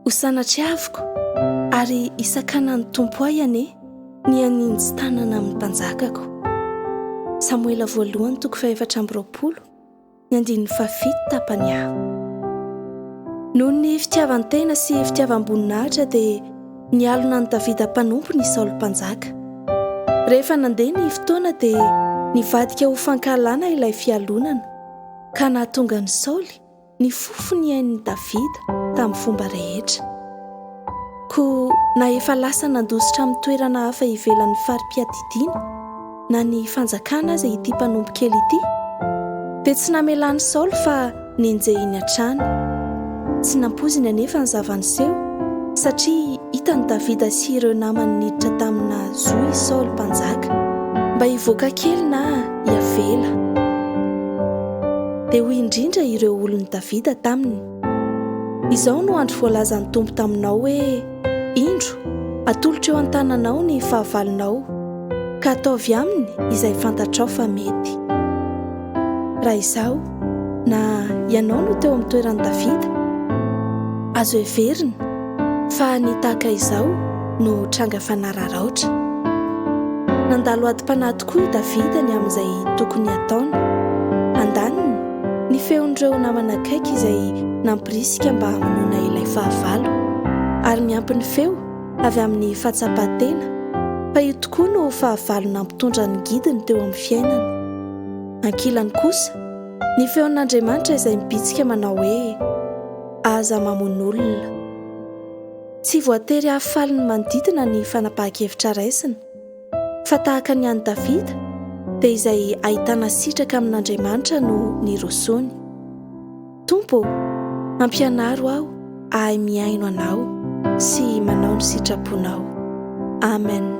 Ho sanatriaviko ary hisakanan'ny Tompo ahy anie ny haninjy tanana amin'ny mpanjakako. Samoela voalohany toko fahefatra amby roapolo ny andininy fahafito tapany A. Noho ny fitiavan-tena sy fitiavam-boninahitra dia nialona an'i Davida mpanompony i Saoly Mpanjaka. Rehefa nandeha ny fotoana dia nivadika ho fankahalana ilay fialonana ka nahatonga an'i Saoly ny fofo nihain'i Davida tamin'ny fomba rehetra. Koa na efa lasa nandositra amin'ny toerana hafa ivelan'ny fari-piadidiana na ny fanjakana aza ity mpanompo kely ity, dia tsy namelan'i Saoly fa nenjehiny hatrany. Tsy nampoiziny anefa ny zava-niseho, satria hitan'i Davida sy ireo namany niditra tamina zo i Saoly Mpanjaka. Mba hivoaka kely na Iavela. Dia hoy indrindra ireo olon'i Davida taminy, Izao no andro voalazan'ny Tompo taminao hoe, Indro, atolotro eo an-tananao ny fahavalonao, ka ataovy aminy izay fantatrao fa mety. Raha izaho, Na ianao no teo amin'ny toeran'i Davida, azo heverina fa ny tahaka izao no tranga fanararaotra. Nandalo adim-panahy tokoa i Davida ny amin'izay tokony hataony. Andaniny, ny feon'ireo namana akaiky izay nampirisika mba hamonoana ilay fahavalo. Ary miampy ny feo avy amin'ny fahatsapan-tena fa io tokoa no fahavalo nampitondra ny gidiny teo amin'ny fiainana. Ankilany kosa, ny feon'Andriamanitra izay mibitsika manao hoe, Aza mamono olona. Tsy voatery hahafaly ny manodidina ny fanapahan-kevitra raisina, fa tahaka ny an'i Davida, dia izay ahitana sitraka amin'Andriamanitra no nirosoany. Tompo ô, ampianaro aho hahay mihaino Anao sy manao ny sitraponao. Amen.